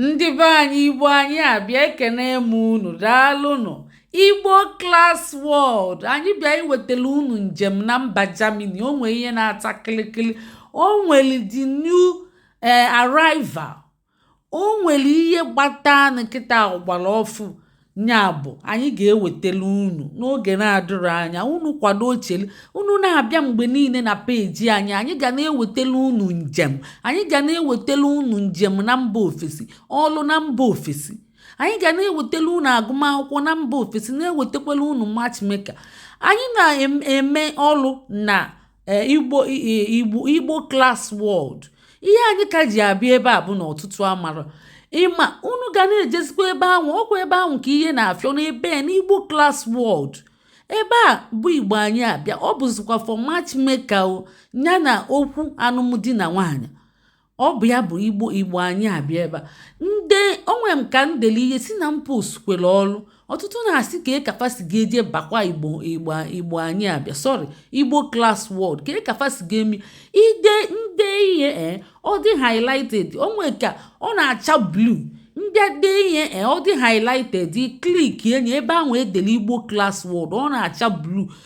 ndị be anyị igbo anyị abịa ekene m unu daalụnụ igbo class world anyị bịa iwetara unu njem na mba germany o nwere ihe na-ata kịlịkịlị o nwere the new arrival o nwere ihe gbatanụ kịta ọ gbara ọfụụ nya bụ anyị ga-ewetara unu n'oge na-adịrọ anya unu kwado chelu unu na-abịa mgbe niine na page anyị anyị ga na-ewetara unu njem anyị ga na-ewetara unu njem na mba ofesi ọlụ na mba ofesi anyị ga na-ewetara unu agụmakwụkwọ na mba ofesi na-ewetakwara unu matchmaker anyị na-eme ọlụ na igbo class world ihe anyị ka ji abịa ebe a bụ na ọtụtụ amara ịma unu ga na-ejezikwa ebe ahụ ọ kwa ebe ahụ ka ihe na-afịọ n'ebe n'igbo class world ebe a bụ igbo anyị abịa ọ bụzikwa for matchmaker o ya na okwu anụm di na nwaanyị ọ bụ ya bụ igbo igbo anyị abịa ebe a ndị o nwe nke m deli ihe sị na m postukwere ọrụ ọtụtụ na-asị kee ka fa si ga-ejebakwa igbo anyị abịa sorry igbo class world kee ka fa si ga-eme m dee ihe ọ dị highlighted o nwe ka ọ na-acha blue m bịa dee ihe ọ dị highlighted click enye ebe ahụ e dere igbo class world ọ na-acha blue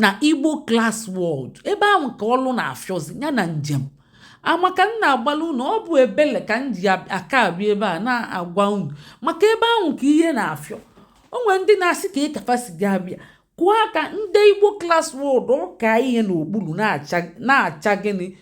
na igbo class world ebe ahụ ka ọlụ na-afịọzi ya na njem ama ka m na-agbalụ unu ọ bụ ebele ka m ji aka abịa ebe a na-agwa unu maka ebe ahụ ka ihe na-afịọ o nwere ndị na-asị kee ka fa si ga-abịa kụọ aka m dee igbo class world ọ kaa ihe n'okpuru na-acha gịnị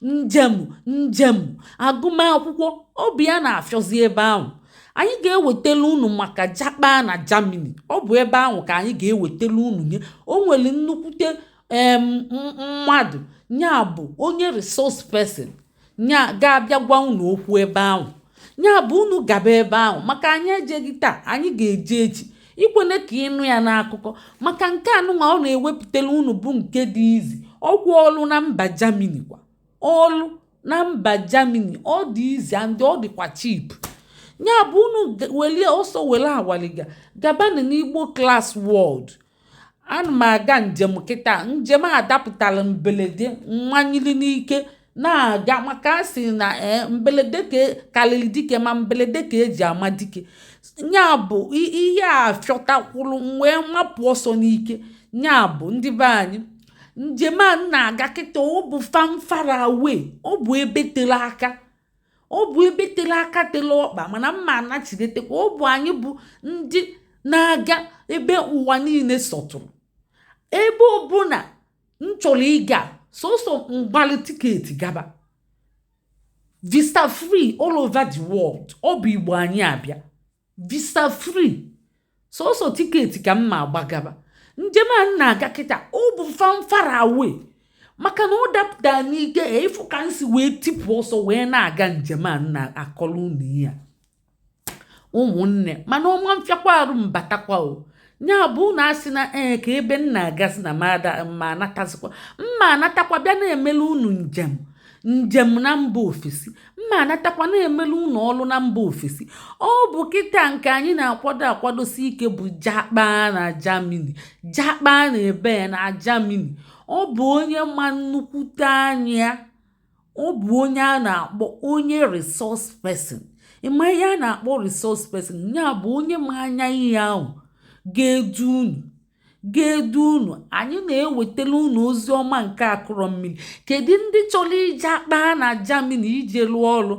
njem njem agụmakwụkwọ ọ bụ ya na-afịọzi ebe ahụ anyị ga-ewetele unu maka japa na Germany ọ bụ ebe ahụ ka anyị ga-ewetele unu nya o nwere nnukwute mmadụ nya bụ onye resource person nya ga-abịa gwa unu okwu ebe ahụ nya bụ unu gaba ebe ahụ maka anyị ejeghị taa anyị ga-eje echi ekwene ka ị nụ ya n'akụkọ maka nke anụnwa ọ na-ewepụtara unu bụ nke dị easy ọ kwa ọlụ na mba Germany kwa ọlụ na mba Germany ọ dị easy and ọ dịkwa cheap nya bụ unu welie ọsọ were awaliga gabanụ n'igbo class world ana m aga njem kịta njem a dapụtara mbelede mmanyili n'ike na-aga maka a sị na mbelede ka e, karịrị dike ma mbelede ka e ji ama dike nya bụ ihe afịọtakwuru m wee mapụ ọsọ n'ike nya bụ ndị be anyị njem a m na-aga kịta ọ bụ far far away ọ bụ ebe tere aka ọ bụ ebe tere aka tere ọkpa mana m ma anachidetekwa ọ bụ anyị bụ ndị na-aga ebe ụwa niine sọtụrụ ebe ọbụna m chọrọ ịga sọsọ m gbalị tiketi gaba visa free all over the world ọ bụ igbo anyị abịa visa free sọsọ tiketi ka m ma-agba gaba njem a m na-aga kịta ọ bụ far far away maka na ọ dapụta n'ike ịfụ ka m si wee tipụ ọsọ wee na-aga njem a m na-akọrọ unu ya ụmụnne mana ọ ma mfịakwa arụ m batakwa o nya bụ unu asị na ee ka ebe m na-agazi na m ma anatazikwa m ma-anatakwa bịa na-emele unu njem njem na mba ofesi m ma-anatakwa na-emele unu ọlụ na mba ofesi ọ bụ kịta nke anyị na-akwado akwadosi ike bụ jakpa na Germany jakpa na ebe na Germany ọ bụ onye ma nnukwute anya ọ bụ onye a na-akpọ onye resource person ị ma ihe a na-akpọ resource person nya bụ onye ma anya ihe ahụ ga-edu unu ga-edu unu anyị na-ewetara unu ozi ọma nke akụrọ mmiri kedu ndị chọrọ ịjakpa na Germany ije lụọ ọrụ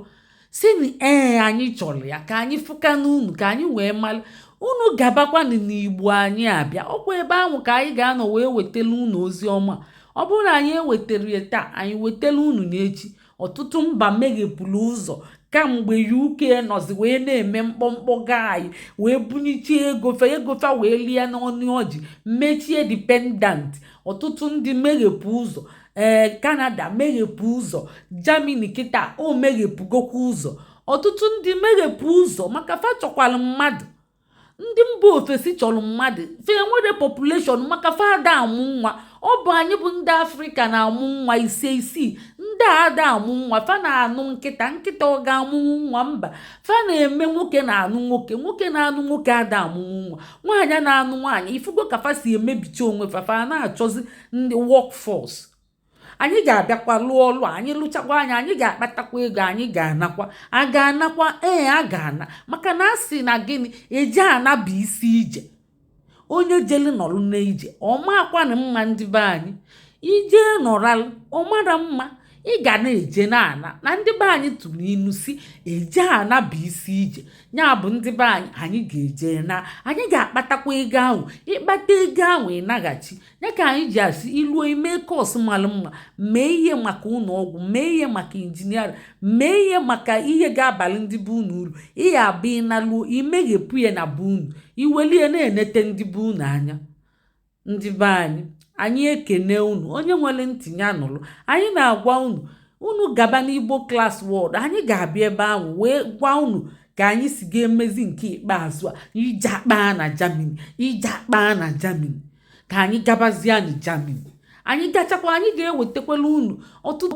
sị na ee anyị chọrọ ya ka anyị fụ aka n'enu ka anyị wee mara unu gabakwanụ n'igbo anyị abịa ọ kwa ebe ahụ ka anyị ga-anọ wee wetara unu ozi ọma ọ bụrụ na anyị ewetarọ ya taa anyị wetara unu n'echi ọtụtụ mba meghepụrụ ụzọ kamgbe UK nọzi wee na-eme mkpọmkpọ gaanyị wee bunicha ego fa ego fa wee lịa n'ọnụ ọjị mechie dependant ọtụtụ ndị meghepụ ụzọ ee eh, Canada meghepụ ụzọ Germany kịta o meghepụgokwa ụzọ ọtụtụ ndị meghepụ ụzọ maka fa chọkwara mmadụ ndị mba ofesi chọrọ mmadụ fa enwerọ population maka fa ada amụ nwa ọ bụ anyị bụ ndị afrịka na-amụ nwa ise isii ndị a ada amụ nwa fa na-anụ nkịta nkịta ọ ga-amụnwu nwa mba fa na-eme nwoke na-anụ nwoke nwoke na-anụ nwoke ada amụnwu nwa nwaanyị na-anụ nwaanyị ị fụgo ka fa si emebicha onwe fa fa na-achọzi ndị workforce anyị ga-abịakwa lụọ ọlụ anyị lụchakwa ya anyị ga-akpatakwa ego anyị ga-anakwa a ga-anakwa ee a ga-ana maka na a sị na gịnị eje ana bụ isi ije onye jele nọrọ n'ije ọ makwanụ mma ndị be anyị i je nọralụ ọ marọ mma ị ga na-eje na-ana na ndị be anyị tụrụ inu sị eje ana bụ isi ije nya bụ ndị be anyị anyị ga-eje naa anyị ga-akpatakwa ego ahụ ị kpata ego ahụ ị naghachi ya ka anyị ji asị i luo i mee course mara mma mee ihe maka ụlọ ọgwụ mee ihe maka engineering mee ihe maka ihe ga-abalị ndị be unu uru ihe a bụ ị naluo i meghepụ ya na be unu i welie na-enete ndị be unu anya ndị be anyị anyị ekene unu onye nwere ntị ya nụrụ anyị na-agwa unu unu gaba n'igbo class world anyị ga-abịa ebe ahụ wee gwa unu ka anyị si ga-emezi nke ikpeazụ a ịjakpa na Germany ịjakpa na Germany ka anyị gabazie na Germany anyị gachakwa anyị ga-ewetakwala unu ọtụtụ